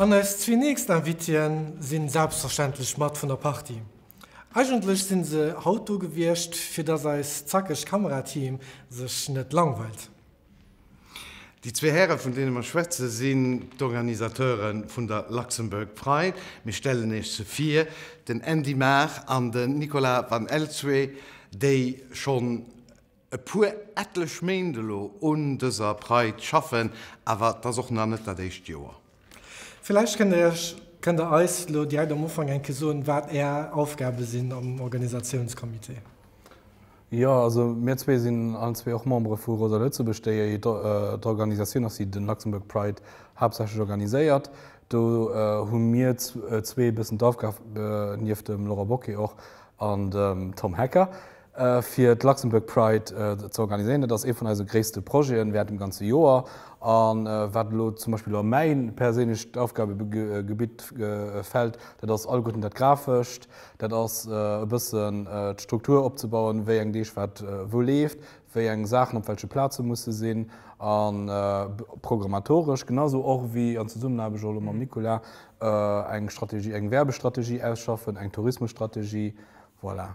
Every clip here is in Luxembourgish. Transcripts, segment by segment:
An eis zwee nächst Invitien sinn selbstverständlech mat vun der Partie. Eigentlech sinn se haut do gewiescht fir dass eist zackegt Kamerateam sech net langweilt. Déi zwee Häre vun deene mer schwätzen, sinn d'Organisateure vun der Luxembourg Pride. Mir stellen Iech se vir, den Andy Maar an den Nicolas Van Elswe, déi schonn e puer, etlech Méint elo un dëser Pride schaffen, awer et ass och nach net dat éischt Joer. Villäicht kënnt Iech, kënnt Der eis elo direkt am Ufank eng Kéier soen, wat Är Aufgabe sinn am Organisatiounscomité? Jo, also mir zwee sinn allen zwee och Membere vu Rosa Lëtzebuerg, déi et d'Organisatioun ass, déi de Luxembourg Pride haaptsächlech organiséiert. Do hu mir zwee e bëssen d'Aufgab, nieft dem Laurent Bocquet och, an dem Tom Hecker, fir d'Luxembourg Pride ze organiséieren. Dat ass ee vun eise gréisste Projeten während dem ganze Joer a wat elo zum Beispill a mäi perséinlecht Aufgabegebitt fält, dat ass alleguerten dat Grafescht, dat ass e bëssen d'Struktur opzebauen, wéi eng Deeg wat wou leeft, wéi eng Saachen op welche Plaze musse sinn a programmatoresch genausou och wéi an Zesummenaarbecht och elo mam Nicolas eng Strategie, eng Werbestrategie ausschaffen, eng Tourismusstrategie. Voilà.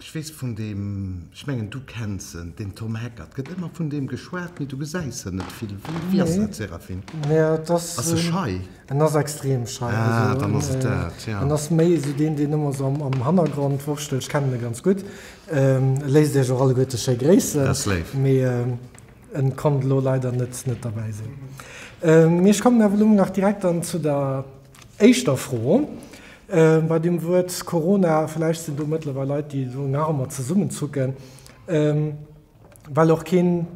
Ech weess vun deem, ech mengen du kenns en, den Tom Hecker, et gëtt ëmmer vun deem geschwat, mee du gesäis en net vill. Wie ass dat, Séraphine? Ass e schei? En ass extrem schei. Ah, dann ass et dat, jo. En ass méi esou deen, deen ëmmer esou am Hannergrond wurschtelt. Ech kennen e ganz gutt. E léisst iech och alleguerte schéi gréissen. Dat ass léif. Mee en konnt elo leider net, net derbäi sinn. Mee ech kommen awer elo nach direkt dann zu der. éischter Fro bei deem Wuert Corona, vläicht sinn do mëttlerweil Leit, déi elo nach ëmmer zesummenzucken, well och keen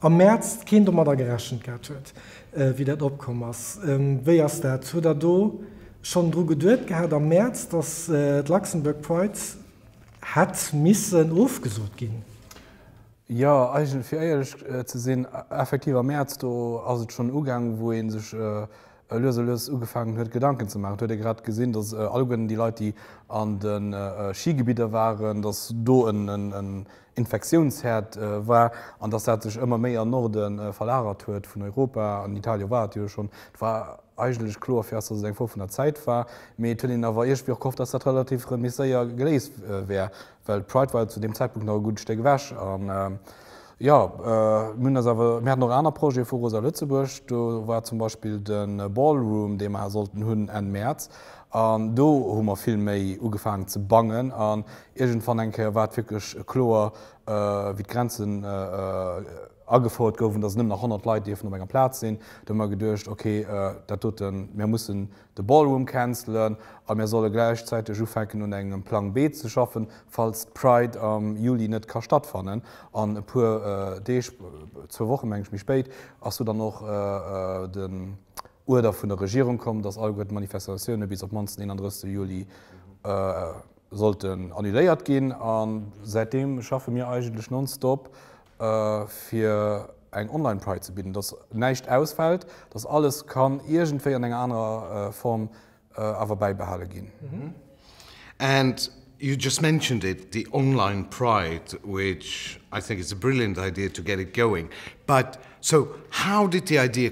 am Mäerz keen domadder gerechent gehat huet, wéi dat opkomm ass. Wéi ass dat, huet Der do schonn dru geduet gehat am Mäerz, datt d'Luxembourg Pride hätt missen ofgesot ginn? Jo, fir éierlech ze sinn, effektiv am Mäerz, do ass et schonn ugaang, wou ee sech lues a lues ugefaangen huet Gedanken ze maachen. Et huet ee grad gesinn, datt alleguerten déi Leit, déi an de Schigebidder waren, datt do en Infektiounsherd war an datt dat sech ëmmer méi an Norde verlagert huet vun Europa. An Italien war et jo schonn. Et war eigentlech kloer fir eis, datt et eng Fro vun der Zäit war, mee et huet een awer iergendwéi och gehofft, datt dat relativ méi séier geléist wär. Well Pride war jo zu deem Zäitpunkt nach e gudde Stéck ewech. An jo, mir hunn eis awer, mir haten och aner Projete vu Rosa Lëtzebuerg. Do war zum Beispill de Ballroom, dee mer sollten hunn Enn Mäerz. An do hu mer vill méi ugefaangen ze bangen. An iergendwann eng Kéier war et wierklech kloer, wéi d'Grenzen agefouert goufen, dass nëmmen nach 100 Leit dierfen op enger Plaz sinn. Do hu mer geduecht, Okay, dat doten, mir mussen, de Ballroom cancelen a mir solle gläichzäiteg ufänken un engem Plang B ze schaffen, falls d'Pride am Juli net ka stattfannen. An e puer Deeg, zwou Wochen meng ech, méi spéit ass jo dann och den Uerder vun der Regierung komm, dass alleguer d'Manifestatioune bis op d'mannsten 31 Juli sollten annuléiert ginn. A säitdeem schaffe mir eigentlech nonstop fir eng Online Pride ze bidden, dass näischt ausfält, dass alles kann iergendwéi an enger anerer Form awer bäibehale ginn. And you just mentioned it, the Online Pride, which I think is a brilliant idea to get it going, but so how did the idea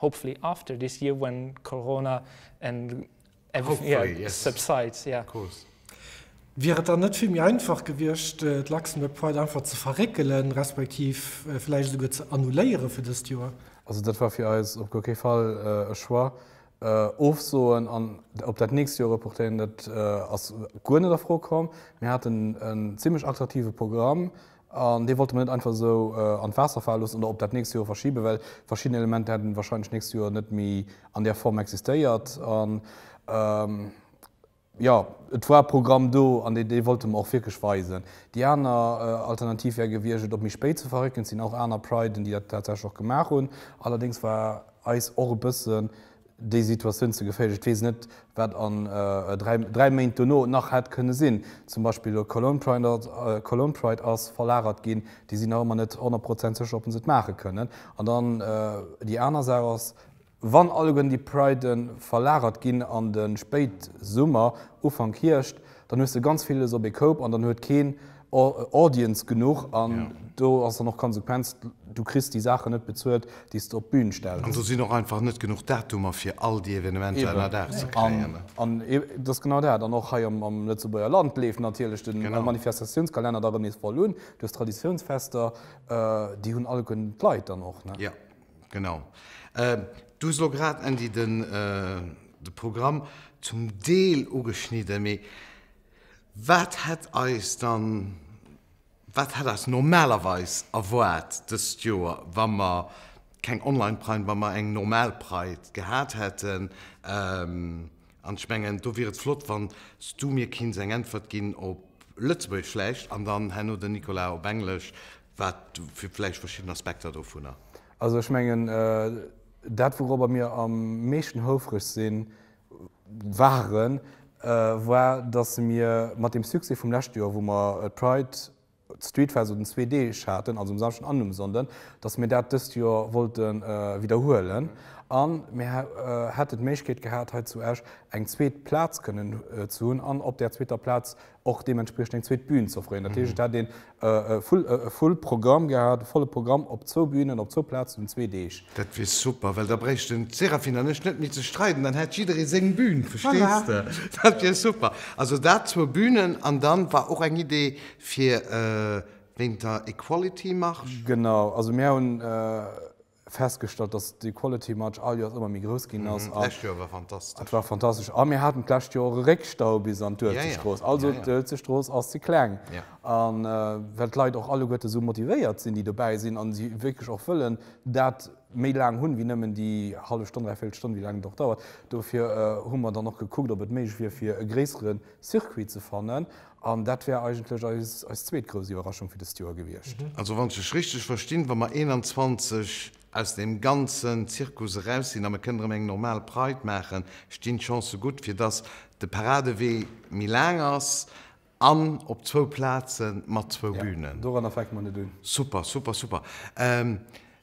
Hopefully after this year when Corona and everything subsides. Wier et dann net vill méi einfach gewiescht, d'Luxembourg Pride einfach ze verréckelen, respektiv vläicht esouguer ze annuléieren fir dëst Joer? Also dat war fir eis op guer kee Fall e Choix. Ofsoen an op dat nächst Joer reportéieren, dat ass guer net a Fro komm. Mir haten en zimmlech attraktive Programm. An dee wollte mer net einfach esou an d'Waasser fale loossen oder op dat nächst Joer verschibe well verschidden Elementer hätten warscheinlech d'nächst Joer net méi an där Form existéiert. An jo, et war e Programm do an dee dee wollte mer och wierklech weisen. Déi aner Alternativ wär gewiescht, et op méi spéit ze verrécken. Et sinn och aner Priden, déi dat tatsächlech och gemaach hunn. Allerdéngs war eis och e bëssen, déi Situatioun ze geféierlech. Et weess net, wat an dräi Méint dono nach hätt kënne sinn. Zum Beispill elo d'Cologne Pride ass verlagert ginn. Déi sinn nach ëmmer net honnert Prozent sécher, ob se et maache kënnen. An dann déi aner Saach ass, wann alleguerten déi Priden verlagert ginn an de Spéitsummer, Ufank Hierscht, Dann hues de ganz villes op ee Koup an dann huet keen Audience genuch an do ass dann och d'Konsequenz, du kriss déi Saachen net bezuelt, déi s de op d'Bün stells. An do sinn och einfach net genuch Datumer fir all déi Evenementer ënnerdaach ze kréien. An et ass genau dat. An och hei am Lëtzebuerger Land leeft natierlech de Manifestatiounskalenner da rëm nees voll un duerch d'Traditiounsfester. Déi hunn alleguerten d'Leit dann och. Genau. Du hues elo grad, Andy, de Programm zum Deel ugeschnidden. Mee wat hätt eis dann, wat hätt eis normalerweis erwaart dëst Joer, wa mer keng Online-Pride, wa mer eng normal Pride gehat hätten? An ech mengen, do wier et flott, wann s du mir kinns eng Äntwert ginn op Lëtzebuergesch vläicht an dann herno den Nicolas op Englesch. Wat fir vläicht verschidden Aspekter dovunner? Also ech mengen, dat wourobber mir am meeschten houfreg si waren, war, datt se mir mat deem Succès vum leschte Joer, wou mer d'Pride, d'Streetfest un zwee Deeg haten, also um Samschden an um Sonnden, datt se mir dat dëst Joer wollte widderhuelen. A mir hätten d'Méiglechkeet gehat, hei zu Esch eng zweet Plaz kënnen ze hunn an op där zweeter Plaz och deementspriechend eng zweet Bühn ze offréieren. Dat heescht, et hätt een e full Programm gehat, e volle Programm op zwou Bühnen, op zwou Plazen un zwee Deeg. Dat wier super, well da bréichten d'Séraphine an ech net méi ze streiden, dann hätt jidderee seng Bühn, verstees de? Dat wier super. Also dat, zwou Bühnen. An da war och eng Idee fir wéint der Equality Marche. Genau, also mir hunn. festgestallt, dass de Quality March all Joers ëmmer méi grouss ginn ass. A D'lescht Joer war fantastesch. et war fantastesch. A mir haten d'lescht Joer och e Réckstau bis an Ja, ja. d'Uelzechtstrooss. Also, Ja, ja. d'Uelzechtstrooss ass ze kleng. Ja. A well d'Leit och alleguerten esou motivéiert sinn, déi dobäi sinn, a si wierklech och wëllen dat méi laang hunn, wéi nëmmen déi hallef Stonn, dräi Véierel Stonn, wéi laang et och dauert. Dofir hu mer dann och gekuckt, ob et méiglech wier, fir e gréissere Circuit ze fannen. An dat wär eigentlech eis zweet grouss Iwwerraschung fir dëst Joer gewiescht. Also wann ech lech richteg verstinn, wa mer 21 aus deem ganzen Zirkus eraus sinn a mer kënnen erëm eng normal Pride maachen, stinn d'Chancë gutt, fir dass de Paradewee méi laang ass an op zwou Plaze mat zwou Bünen. Doranner fänke mer net un. Super, super, super.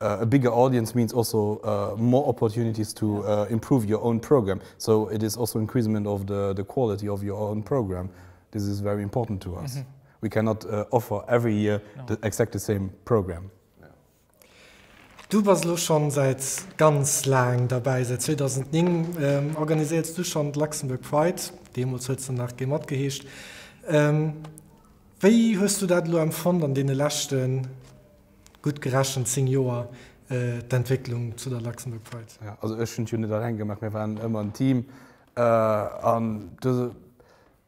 A bigger audience means also more opportunities to improve your own programme, so it is also increasement of the quality of your own programme. This is very important to us. We cannot offer every year the exact the same programme. Du bass elo schonn säit ganz laang derbäi, säit 2009 organiséiers du schonn d'Luxembourg Pride, deemools huet se nach Gmod geheescht. Wéi hues du dat elo empfonnt an deene leschten Gutt gerechent 10 Joer d'Entwécklung zu der Luxembourg Pride. Jo, also ech hunn et jo net alleng gemaach, mir waren ëmmer en Team an do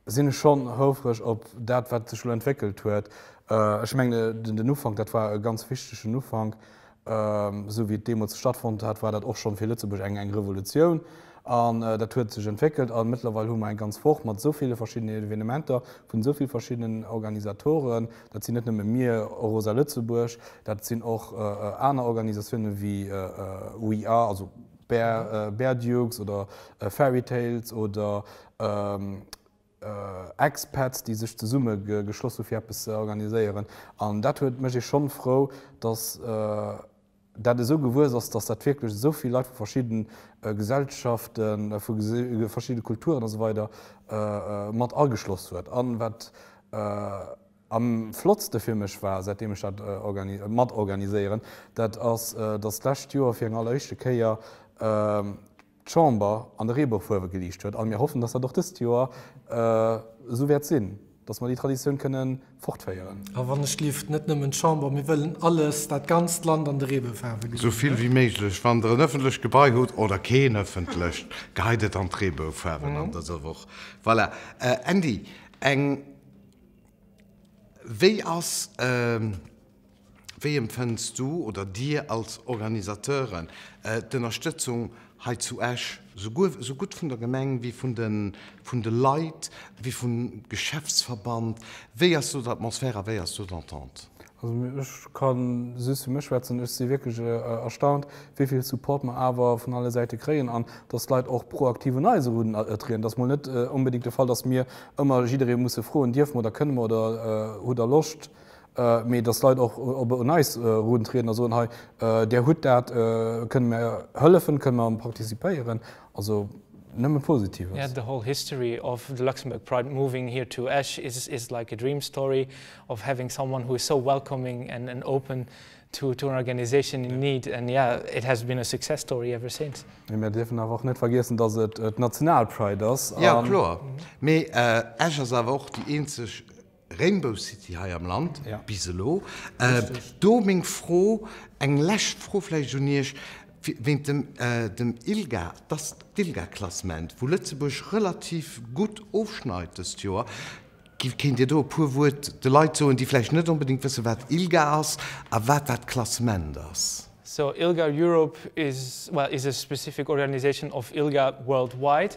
sinn ech schonn houfreg op dat wat sech elo entwéckelt huet. Ech mengen den Ufank, dat war e ganz wichtegen Ufank, esou wéi et deemools stattfonnt hat, war dat och schonn fir Lëtzebuerg eng eng Revolutioun an dat huet sech entwéckelt an mëttlerweil hu mer eng ganz Woch mat esou ville verschiddenen Evenementer vun esou vill verschiddenen Organisatoren, Dat sinn net nëmme mir, Eurosa Lëtzebuerg, dat sinn och aner Organisatioune wéi We Are, also Bear, Bear Dukes oder Fairy Tales oder Expats, déi sech zesumme geschloss hu fir eppes ze organiséieren. An dat huet, mécht ee schonn frou, datt, dat esou gewuess ass, datt dat wierklech esou vill Leit vu verschidde Gesellschaften, vu verschidde Kulturen a sou weider mat ageschloss huet. A wat am flottste fir mech war, säitdeem ech dat mat organiséieren, dat ass, datt d'lescht Joer fir eng alleréischte Kéier d'Chamber an de Reeboufuerwe geliicht huet. A mir hoffen, dass dat och dëst Joer esou wäert sinn, dass mer déi Traditioun kënne fortféieren. A wann-ech-gelift, net nëmmen d'Chamber, mir wëllen alles, dat ganzt Land an de Reeboufuerwe gesinn. Esou vill wéi méiglech. Wann Der en ëffentlecht Gebai hutt, oder keen ëffentlecht, geheit et an d'Reeboufuerwen an dëser Woch. Voilà. Andy, eng, wéi ass, Wéi empfënns du oder Dir als Organisateuren d'Ënnerstëtzung hei zu Esch, sou gutt vun der Gemeng wéi vun de Leit, wéi vum Geschäftsverband? Wéi ass do d'Atmosphär a wéi ass do d'Entente? Also ech ka just fir mech schwätzen, ech si wierklech erstaunt, wéi vill Support mer awer vun alle Säite kréien an datt d'Leit och proaktiv un eis eruntrieden. Et ass mol net onbedéngt de Fall, datt mir ëmmer jidderee musse froen, dierfe mer oder kënne mer oder hutt Der Loscht mee dass Leit och op un eis eruntrieden a soen, hei där hutt dat, kënne mir hëllefen, kënne mir participéieren, also nëmme Positives. The whole history of the Luxembourg Pride moving here to Esch is like a dream story of having someone who is so welcoming and open to an organisation in need and yeah it has been a success story ever since. Mee mir dierfen awer och net vergiessen, dass et d'Nationalpride ass. Jo kloer, mee Esch ass awer och déi eenzeg. Rainbow City hei am Land, bis elo. Do meng Fro, eng lescht Fro vläicht un Iech, wéint dem dem ILGA, dass d'ILGA-Klassement, wou Lëtzebuerg relativ gutt ofschneit dëst Joer, kéint Dir do e puer Wuert de Leit soen, déi vläicht net onbedéngt wëssen, wat ILGA ass a wat dat Klassement ass? So, ILGA Europe is, well, is a specific organisation of ILGA worldwide.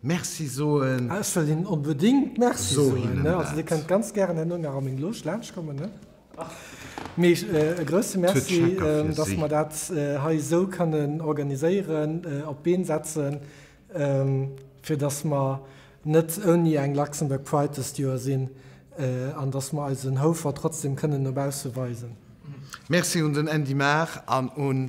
Merci soen. Ech wëll hinnen onbedéngt Merci soen. Also Dir kënnt ganz gären herno nach a meng Loge laanschtkommen. Mee e grousse Merci, datt mer dat hei esou kënnen organiséieren, op d'Been setzen, fir datt mer net ouni eng Luxembourg Pride dëst Joer sinn an datt mer eisen Houfert trotzdeem kënnen no bausse weisen. Merci un den Andy Mahr an un